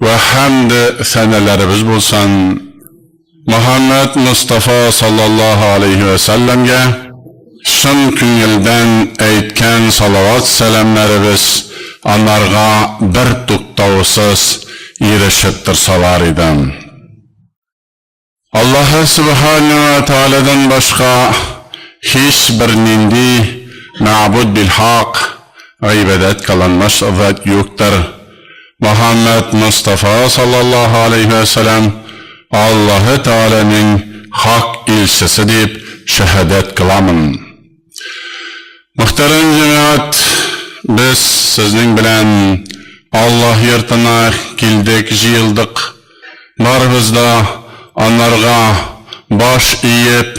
Вә хәмд сәнәләребез булсын Мөхәммәд Мостафа саллаллаһу алейһи вә сәлләмгә, чын күңелдән әйткән салават-сәламнәребез анарга бертуктаусыз ирешеп торсалар иде. Аллаһы Сүбхәнәһү вә Тәгаләдән башка һичбер нинди мәгъбүд бил-хак, гыйбадәт кыланмас зат юктыр. Мөхәммәд Мостафа саллаллаһу галәйһи вә сәлам Аллаһы Тәгаләнең хак илчесе дип шәһадәт кыламын. Мөхтәрәм җәмәгать, без сезнең белән Аллаһ йортына килдек, җыелдык. Барыбыз да анарга баш иеп,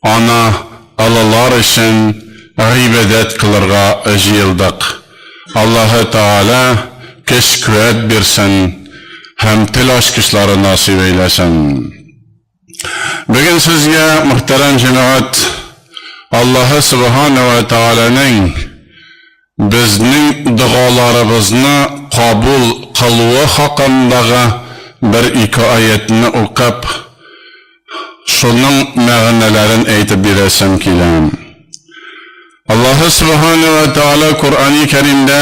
аны олылар өчен гыйбадәт кылырга җыелдык. Аллаһы Тәгалә көч-куәт бирсен һәм тел ачкычлары насыйп әйләсен. Бүген сезгә, мөхтәрәм җәмәгать, Аллаһы Сөбхана вә Тәгаләнең безнең догаларыбызны кабул кылуы хакындагы бер-ике аятьне укып, шуның мәгънәләрен әйтеп бирәсем килә. Аллаһы Сөбхана вә Тәгалә Коръәни Кәримдә,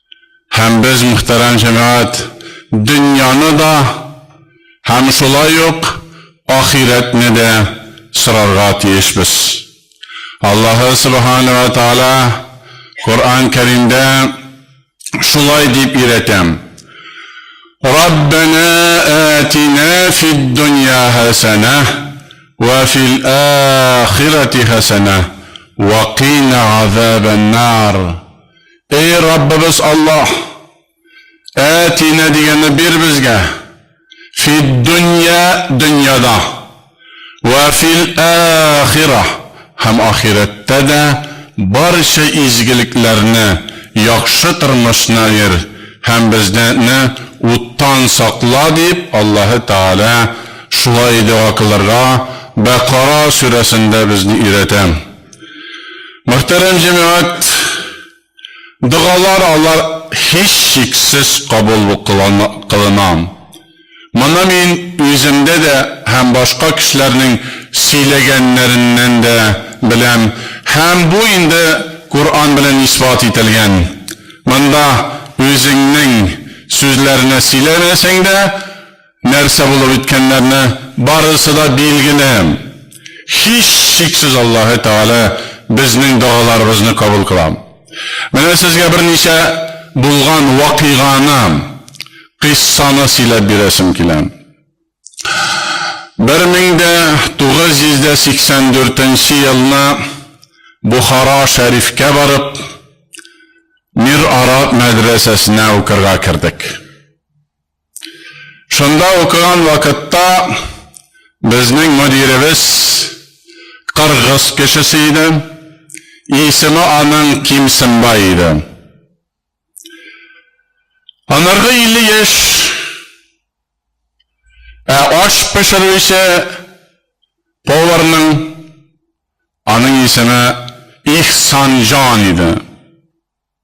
Һәм без, мөхтәрәм җәмәгать, дөньяны да һәм шулай ук ахирәтне дә сорарга тиешбез. Аллаһы Сөбхәнә вә Тәгалә Коръән Кәримдә шулай дип өйрәтә, Раббәнә әтинә фид-дөнья хәсәнә вә фил-ахирәти хәсәнә вә кина газабән-нар, Эй Раббыбыз Аллаһ! Әтинә дигәнне бир безгә, фиддөнья, дөньяда, вә фил-ахирә, һәм ахирәттә дә барча изгелекләрне, яхшы тормышны бир, һәм безнене уттан сакла, дип, Аллаһы Тәгалә шулай дога кылырга Бәкара сүрәсендә безне өйрәтә. Мөхтәрәм җәмәгать, догалар алар һичшиксез кабул кылына. Моны мин үземдә дә һәм башка кешеләрнең сөйләгәннәреннән дә беләм һәм бу инде Коръән белән исбат ителгән. Монда үзеңнең сүзләрне сөйләмәсәң дә, Нәрсә булып иткәннәрне барысы да билгеле. Һичшиксез Аллаһы Тәгалә безнең догаларыбызны кабул кыла. Менә сезгә берничә булган вакыйганы, кыйссаны сөйләп бирәсем килә. Бер мең дә тугыз йөз дә сиксән дүртенче елны Бохара Шәрифкә барып, Мир Араб мәдрәсәсенә укырга кердек. Шунда укыган вакытта безнең мөдиребез кыргыз кешесе иде. Исеме аның Кимсенбай иде. Анарга 50 яшь. Ә аш пешерү исә поварның аның исеме Ихсанҗан иде.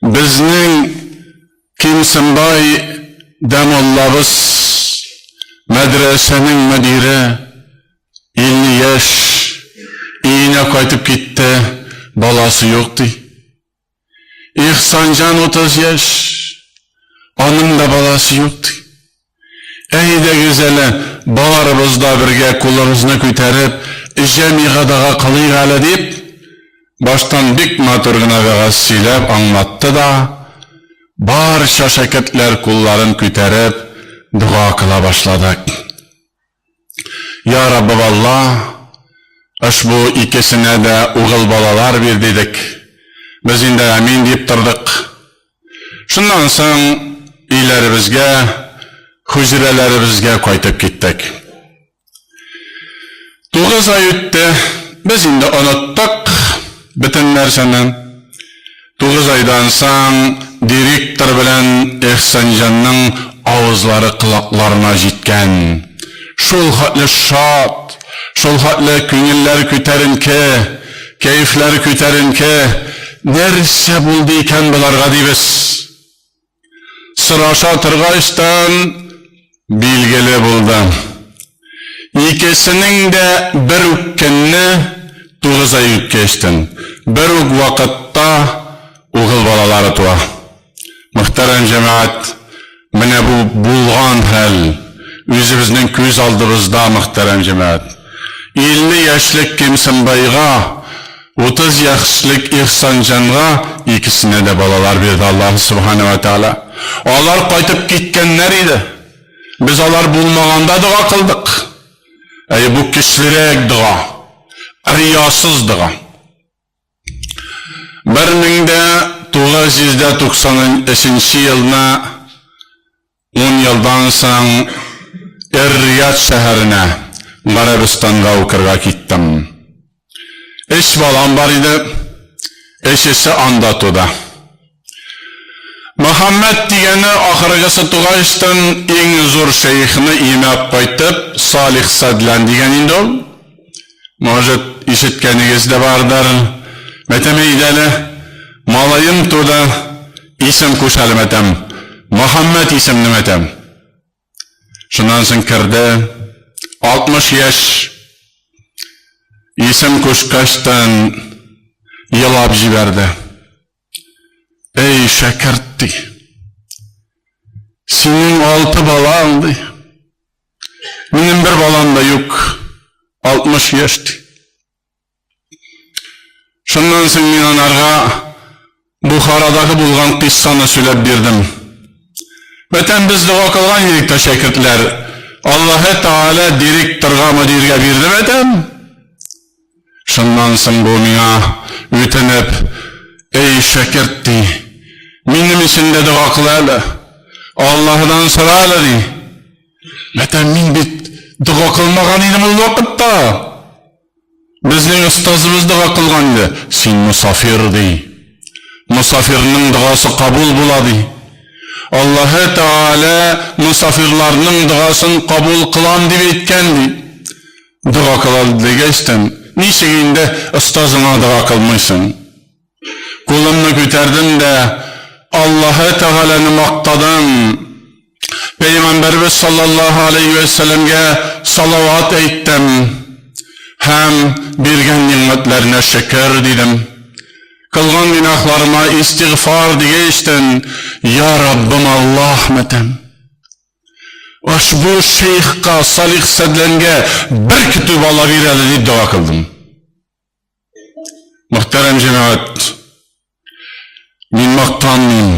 Безнең Кимсенбай дә муллабыз, мәдрәсәнең мөдире, илле яшь, өенә кайтып китте, баласы юк, ди. Ихсанҗан утыз яшь, аның да баласы юк, ди. Әйдәгез әле, барыбыз да бергә кулыбызны күтәреп, җәмигә дога кылыйк әле, дип, баштан бик матур гына вәгазь сөйләп аңлатты да, барча шәкертләр кулларын күтәреп дога кыла башладык. Я Раббы Алла, ошбу икесенә дә угыл балалар бир, дидек. Без инде Амин дип тордык. Шуннан соң өйләребезгә, хуҗрәләребезгә кайтып киттек. Тугыз ай үтте, без инде оныттык бөтен нәрсәне. Тугыз айдан соң директор белән Ихсанҗанның авызлары колакларына җиткән. Шул хәтле шат, шул хәтле күңелләр күтәренке, кәефләр күтәренке, нәрсә булды икән боларга дибез. сораша торгачтан билгеле булды, икесенең дә бер үк көнне, тугыз ай үткәчтен, бер үк вакытта угыл балалары туа. Мөхтәрәм җәмәгать, менә бу булган хәл, үзебезнең күз алдыбызда, мөхтәрәм җәмәгать. Илле яшьлек Кимсенбайга. Утыз яшьлек Ихсанҗанга икесенә дә балалар бирде Аллаһ Сүбхәнә вә Тәгалә. Алар кайтып киткәннәр иде. Без алар булмаганда дога кылдык. Әйе, бу көчлерәк дога. Риясыз дога. 1993 елына Ун елдан соң Эр-Рияд шәһәренә, Гарәбстанга укырга киттем. Өч балам бар иде, өчесе анда туды. Мөхәммәд дигәне ахыргысы тугачтын, иң зур шәехне иемә кайтып, Салих Сәдлән дигән инде ул. Может, ишеткәнегез дә бардыр, Мәтәмәйдәле малаем туды, исем куш әле, Мәтәм, Мөхәммәт исемле Мәтәм. Шуннан соң керде, 60 яшь, исем кушкачтан елап җибәрде. Әй, шәкерт, ди. Синең алты балаң, ди. Минем бер балам да юк. 60 яшь, ди. Шуннан соң мин анарга Бухарадагы булган кыйссаны сөйләп бирдем. Бәтән без дога кылган идек тә шәкертләр. Аллаһы Тааля директорга, мөдиргә бирде бәтән. Шуннан соң бу миңа үтенеп, Эй, шәкерт, ди, минем өчен дә дога кыл әле, Аллаһыдан сора әле, ди. Мәтәм мин бит дога кылмаган идем ул вакытта. Безнең остазыбыз дога кылган иде. Син мусафир, ди. Мусафирның догасы кабул була, ди. Аллаһы Тәгалә мусафирларның догасын кабул кылам дип әйткән, ди. Дога кылалыйк дигәчтен, ничек инде остазыңа дога кылмыйсың? Кулымны күтәрдем дә, Аллаһы Тәгаләне мактадым, Пәйгамбәрбез саллаллаһу алейһи вә сәләмгә салават әйттем һәм биргән нигъмәтләренә шөкер, дидем. Кылган гөнаһларыма истигъфар дигәчтен, Я Раббым Аллаһ! мәтәм. Ошбу шейхка, Салих Сәдләнгә бер көтү бала бир әле, дип дога кылдым. Мөхтәрәм җәмәгать, мин мактанмыйм.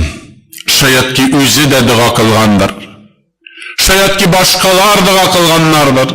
Шаят ки, үзе дә дога кылгандыр. Шаят ки, башкалар дога кылганнардыр.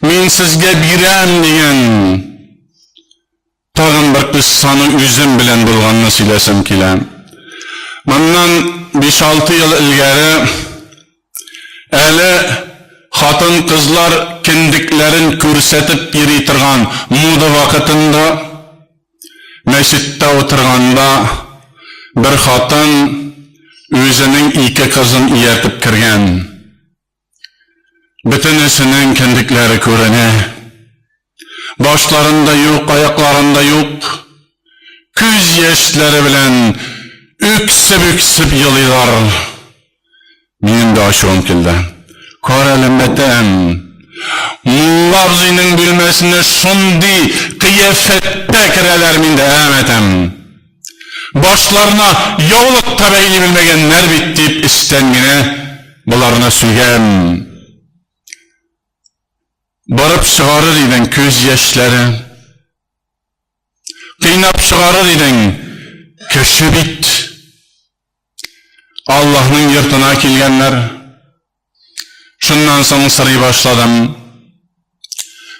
Мин сезгә бирәм, дигән тагын бер кыссаны үзем белән булганны сөйләсәм килә. Моннан 5-6 ел элгәре әле хатын-кызлар кендекләрен күрсәтеп йөри торган мода вакытында мәчеттә утырганда бер хатын үзенең ике кызын ияртеп кергән. Бөтенесенең кендекләре күренә. Башларын да юк, аякларын да юк. Күз яшьләре белән үксеп-үксеп елыйлар. Минем дә ачуым килде. Кар әле мәтәм. Мулла абзыйның бүлмәсенә шундый кыяфәттә керәләр, мин дә әмәтәм. Башларына яулык та бәйли белмәгәннәр бит, дип эчтән генә боларны сөйгән. Барып чыгарыр идең күз яшьләре. Кыйнап чыгарыр идең кеше бит. Аллаһның йортына килгәннәр. Шуннан соң сорый башладым.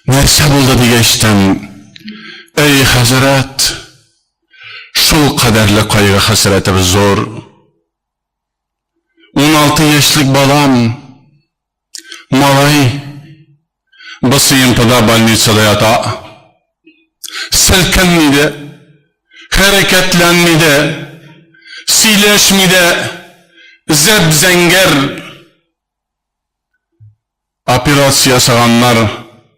Нәрсә булды дигәч тәм? Әй, хәзрәт, шул кадәрле кайгы хәсрәтебез зур. 16 яшьлек балам Малай БСМПда больницада ята. Селкенми дә, хәрәкәтләнми дә, сөйләшми дә, зәп-зәңгәр. Операция ясаганнар,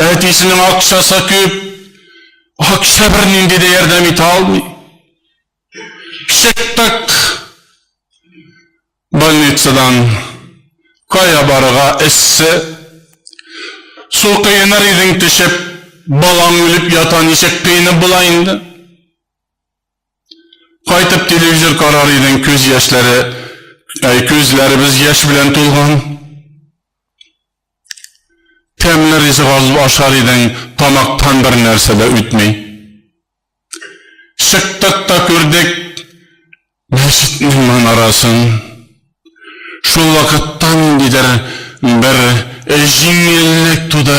Әтисенең акчасы күп. Акча бернинди дә ярдәм итә алмый. Чыктык больницадан. Кая барырга эссе. Су кыеныр идең төшеп, балаң үлеп ята, ничек кыенып була инде? Кайтып телевизор карар идең, күз яшьләре, әй, күзләребез яшь белән тулган. Тәмле ризык алып ашар идең, тамактан бер нәрсә дә үтми. Чыктык та күрдек мәчетнең манарасын. Шул вакытта ниндидер бер җиңеллек туды.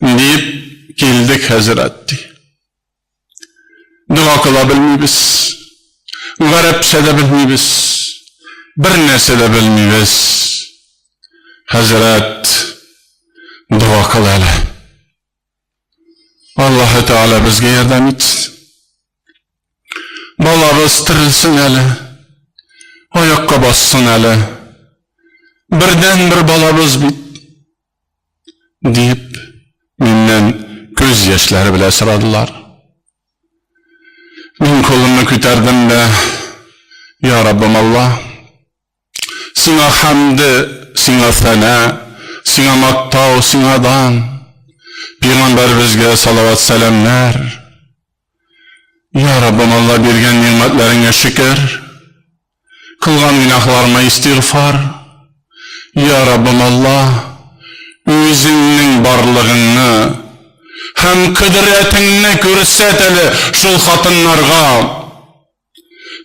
Диеп килдек, хәзрәт, ди. Дога кыла белмибез. Гарәпчә дә белмибез. Бер нәрсә дә белмибез. Хәзрәт, дога кыл әле. Аллаһы Тәгалә безгә ярдәм итсен. Балабыз терелсен әле. Аякка бассын әле. Бердән бер балабыз бит. Дип, миннән күз яшьләре белә сорадылар. Мин кулымны күтәрдем дә, Я Раббым Алла, Сиңа хәмде, Сиңа фәнә, Сиңа мактау, Сиңа дан, Пигамбәребезгә салават-сәламнәр, Я Раббым Алла, биргән нигъмәтләреңә шөкер, Кылган гөнаһларыма истигъфар. Йа Раббым Аллаһ, Үзеңнең барлыгыңны һәм кодрәтеңне күрсәт әле шул хатыннарга.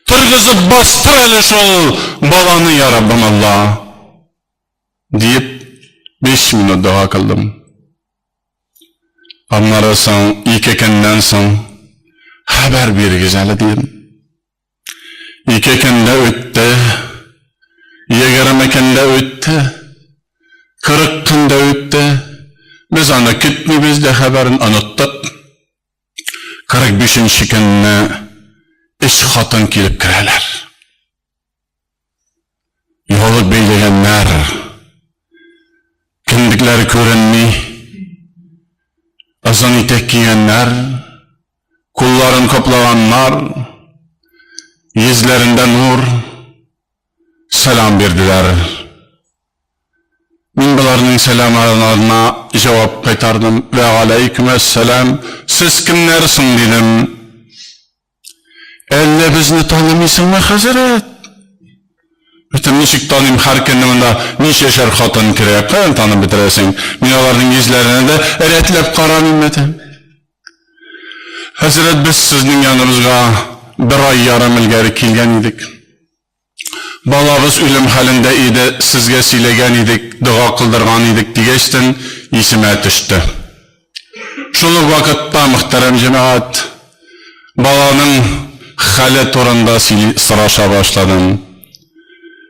Торгызып бастыр әле шул баланы, йа Раббым Аллаһ! диеп, биш минут дога кылдым. Аннары соң, ике көннән соң, Хәбәр бирегез әле, дидем. Ике көн дә үтте, егерме көн дә үтте, кырык көн дә үтте. Без аны көтмибез дә, хәбәрен оныттык. Кырык бишенче көнне өч хатын килеп керәләр. Югалып бәйләгәннәр. Кемлекләре күренми. Озын итәк кигәннәр. Кулларын каплаганнар. Йөзләрендә нур. Сәлам бирделәр. Мин боларның сәламларына җавап кайтардым. Вә галәйкүм әссәлам. Сез кемнәр соң, дидем. Әллә безне танымыйсыңмы, хәзрәт? Бөтен ничек таныйм, һәр көнне монда ничәшәр хатын керә, каян танып бетерәсең? Мин аларның йөзләренә дә рәтләп карамыйм бәтем. Хәзрәт, без сезнең яныбызга бер ай ярым элгәре килгән идек. Балагыз үлем хәлендә иде, сезгә сөйләгән идек, дога кылдырган идек, дигәчтен, исемә төште. Шул ук вакытта, мөхтәрәм җәмәгать, баланың хәле турында сөйли, сораша башладым.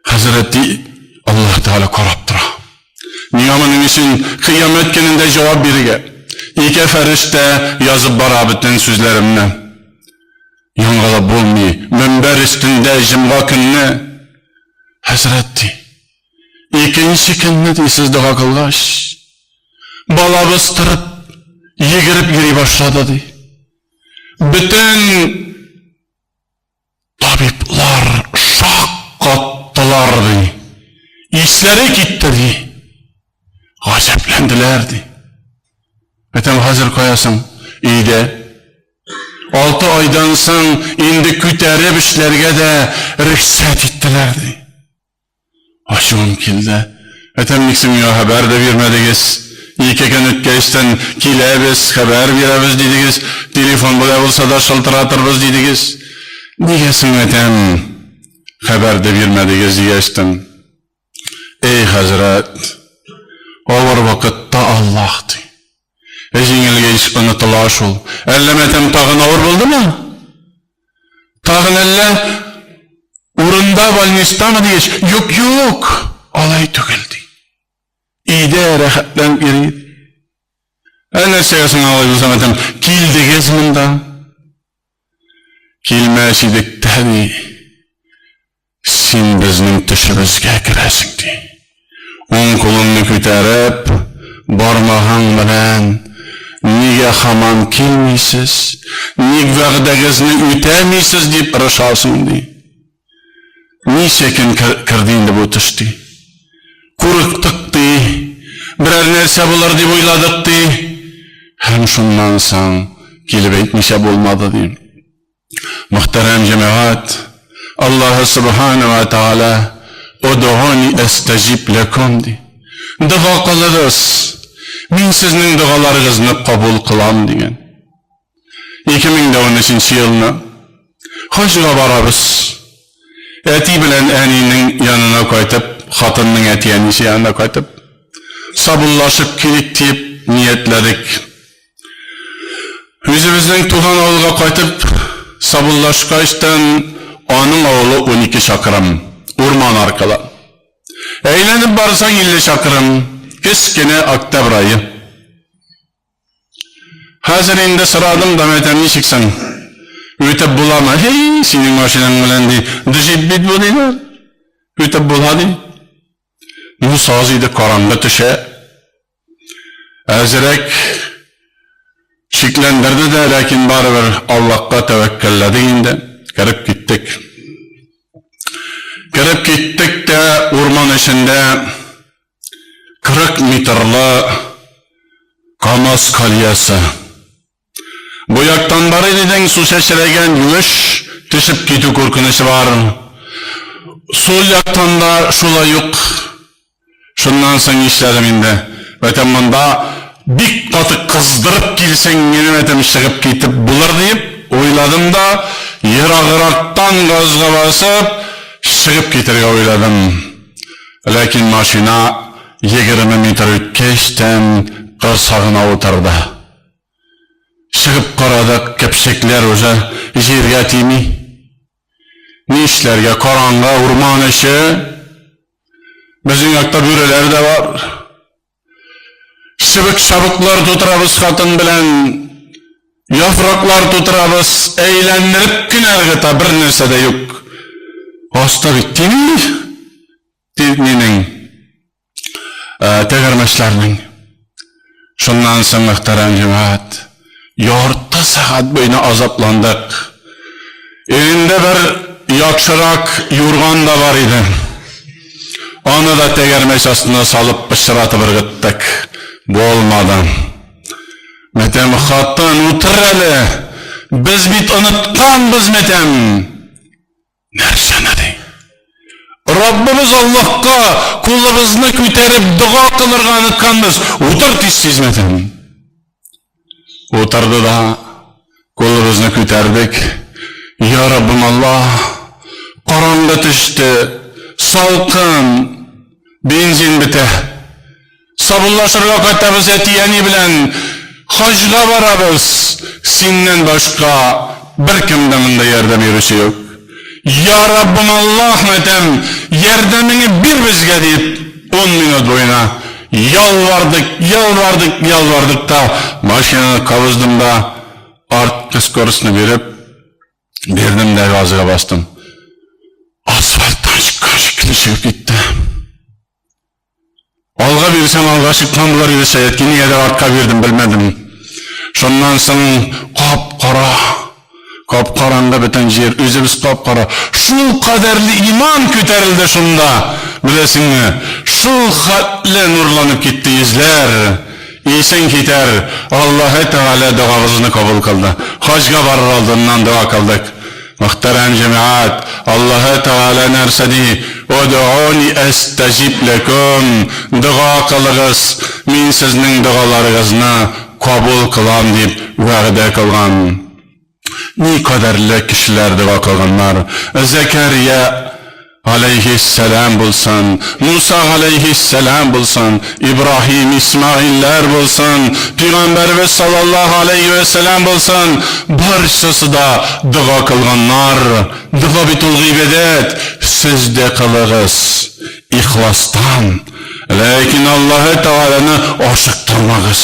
Хәзрәт ди, Аллаһ Тәгалә карап тора. Миңа моның өчен кыямәт көнендә җавап бирергә ике фәрештә язып бара бөтен сүзләремне. Яңалап булмый, мөнбәр өстендә җомга көнне, Хәзрәт, ди, икенче көнне, ди, сез дога кылгач, балабыз торып, йөгереп йөри башлады, ди. Бөтен табиблар шаккаттылар, ди. Исләре китте, ди. Гаҗәпләнделәр, ди. Әтәм хәзер каясың? Өйдә. Алты айдан соң инде күтәреп эшләргә дә рөхсәт иттеләр, ди. Ачуым килде. Әтәм, ник син миңа хәбәр дә бирмәдегез? Ике көн үткәчтен киләбез, хәбәр бирәбез дидегез, телефон белән булса да шылтыратырбыз дидегез. Нигә соң, әтәм, хәбәр дә бирмәдегез дигәчтен? Эй, хәзрәт, авыр вакытта Аллаһ ди. Ә җиңелгәч онытыла шул. Әллә матәм тагын авыр булдымы? Тагын әллә урында больнистамы дигәч, юк, юк, алай түгел ди. Өйдә рәхәтләнеп йөри. Ә нәрсәгә соң алай булса матәм? Килдегез монда. Килмәс идек тә ди. Син безнең төшебезгә керәсең, ди. Уң кулымны күтәреп, бармагың белән, Нигә һаман килмисез? Ник вәгъдәгезне үтәмисез? дип орышасың, ди. Ничә көн керде инде бу төш, ди. Курыктык, ди. Берәр нәрсә булыр дип уйладык, ди. Һәм шуннан соң килеп әйтмичә булмады, ди. Мөхтәрәм җәмәгать, Аллаһы Субхана вә Тәгалә, Одоуни әстәҗиб ләкүм, ди. Дога кылыгыз, мин сезнең догаларыгызны кабул кылам, дигән. 2013 елны хаҗга барабыз. Әти белән әнинең янына кайтып, хатынның әти-әнисе янына кайтып, сабуллашып килик диеп ниятләдек. Үзебезнең туган авылга кайтып сабыллашкачтын, аның авылы унике чакрым, урман аркылы. Әйләнеп барсаң, илле чакрым, кечкенә Октябрь ае. Хәзер инде сорадым да, мәтәм, ничек соң? Үтеп буламы? Һи, синең машинаң белән, ди, джип бит бу, диләр. Үтеп була, ди. Ну, саз иде, караңгы төшә. Әзерәк шикләндерде дә, ләкин барыбер Аллакка тәвәккәлләдек инде, кереп киттек. Кереп киттек тә, урман эчендә 40 метрлы Камаз кольясы. Бу яктан бар илнең су чәчрәгән юеш төшеп китү куркынычы бар. Сул яктан да шулай ук. Шуннан соң нишләдем инде? Бәтем монда бик каты кыздырып килсәң минем этем чыгып китеп булыр дип уйладым да, ераграктан газга басып чыгып китергә уйладым. Ләкин машина егерме метр үткәч тән корсагына утырды. Чыгып карадык, кәпчекләр уже җиргә тими. Ни эшләргә, караңгы, урман эче. Безнең якта бүреләр дә бар. Чыбык-чабыклар тутырабыз хатын белән. Яфраклар тутырабыз, әйләндереп кенә ыргыта, бер нәрсә дә юк. Аста бит тими, дип минең. тәгәрмәчләрнең. Шуннан соң мөхтәрәм җәмәгать, ярты сәгать буена азапландык. Өендә бер яхшырак юрган да бар иде. Аны да тәгәрмәч астына салып пычратып ыргыттык. Булмады. Мәтәм хатын, утыр әле. Без бит онытканбыз, мәтәм. Нәрсәне ди? Раббыбыз Аллаһка кулыбызны күтәреп дога кылырга онытканбыз. Утыр тиз хезмәтем. Утырды да кулыбызны күтәрдек. Я Раббым Аллаһ, караңгы төште, салкын, бензин бетә. Саубуллашырга кайтабыз әти-әни белән хаҗга барабыз, синнән башка беркем дә монда ярдәм йөрүче юк. Я Раббым Аллаһ мәтәм ярдәмеңе бир безгә дип ун минут буена ялвардык, ялвардык, ялвардык та машинаны кабыздым да арткы скоростьны биреп бирдем дә газга бастым. Асфальттан чыккан шикелле чыгып китте. Алга бирсәм, алга чыкмадылар иде, Сәяткин нигәдер артка бирдем, белмәдем. Шуннан соң кап-кара, кап-караңгы бөтен җир, үзебез кап-кара. Шул кадәрле иман күтәрелде шунда, беләсеңме, шул хәтле нурланып китте йөзләр. Исең китәр, Аллаһы Тәгалә догабызны кабул кылды. Хаҗга барыр алдыннан дога кылдык. Мөхтәрәм җәмәгать, Аллаһы Тәгалә нәрсә ди, Одоуни әстәҗиб ләкүм, дога кылыгыз, мин сезнең догаларыгызны кабул кылам, дип вәгъдә кылган. Никадәрле кешеләр дога кылганнар! Зәкәрия. галәйһиссәлам булсын, Муса галәйһиссәлам булсын, Ибраһим, Исмәгыйльләр булсын, пигамбәребез саллаллаһу галәйһи вә сәлам булсын, барчасы да дога кылганнар, дога бит ул гыйбадәт, сез дә кылыгыз, ихластан, ләкин Аллаһы Тәгаләне ашыктырмагыз.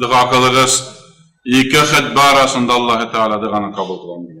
Дога кылыгыз, ике хәтбә арасында Аллаһ Тәгалә доганы кабул кылган.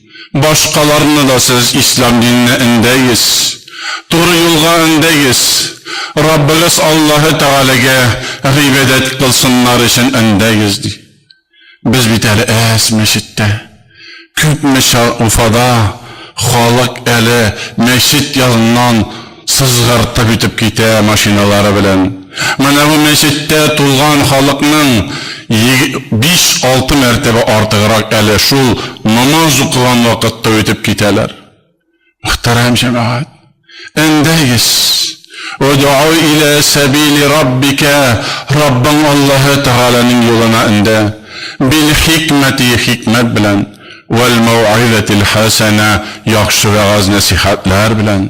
Башкаларны да сез ислам диненә өндәегез, туры юлга өндәегез, Раббыгыз Аллаһы Тәгаләгә гыйбадәт кылсыннар өчен өндәегез, ди. Без бит әле әз мәчеттә. Күпме чак Уфада халык әле мәчет яныннан Сызгыртып үтеп китә машиналары белән. Менә бу мәчеттә тулган халыкның биш-алты мәртәбә артыграк әле шул намаз укыган вакытта үтеп китәләр. Мөхтәрәм җәмәгать! Әндәгез! Удоу илә сәбили Раббикә, Раббың Аллаһы Тәгаләнең юлына эндә, бил-хикмәти, хикмәт белән, вәл-мәүгыйзәтил хәсәнә, яхшы вәгазь-нәсыйхәтләр белән.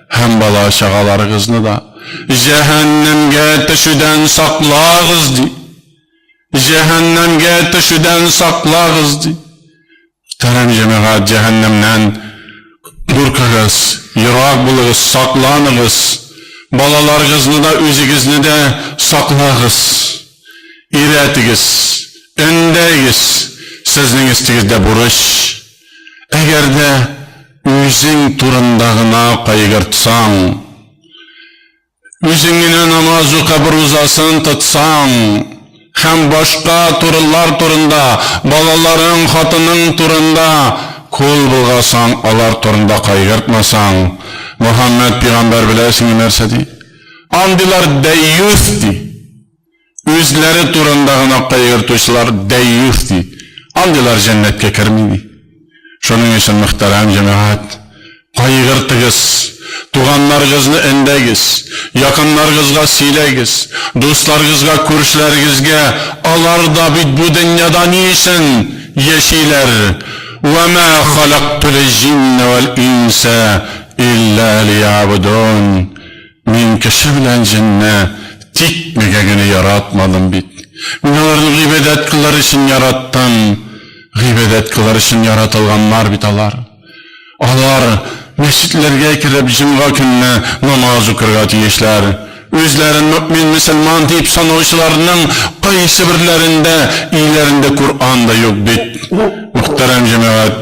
Һәм бала-чагаларыгызны да җәһәннәмгә төшүдән саклагыз, ди. Җәһәннәмгә төшүдән саклагыз, ди. Тәрәм җәмәгать, җәһәннәмнән куркыгыз, ерак булыгыз, сакланыгыз. Балаларыгызны да, үзегезне дә саклагыз. Өйрәтегез, өндәегез. Сезнең өстегездә бурыч. Әгәр дә үзең турында гына кайгыртсаң, үзең генә намаз укып рузасын тотсаң һәм башка турылар турында, балаларың, хатының турында кол болгасаң, алар турында кайгыртмасаң, Мөхәммәд пигамбәр беләсеңме нәрсә ди? Андыйлар дәйюс ди. Үзләре турында гына кайгыртучылар дәйюс ди. Андыйлар җәннәткә керми ди. Шуның өчен, мөхтәрәм җәмәгать, кайгыртыгыз, туганнарыгызны өндәгез, якыннарыгызга сөйләгез, дусларыгызга, күршеләрегезгә, алар да бит бу дөньяда ни өчен яшиләр, Вә мә халактул җиннә вәл инсә илля лиябудун, Мин кеше белән җенне тик мега генә яратмадым бит. Мин аларны гыйбадәт кылыр өчен яраттым. Гыйбадәт кылыр өчен яратылганнар бит алар. Алар мәчетләргә кереп җомга көнне намаз укырга тиешләр. Үзләрен мөэмин мөселман дип санаучыларның кайсыберләрендә өйләрендә Коръан да юк бит. Мөхтәрәм җәмәгать!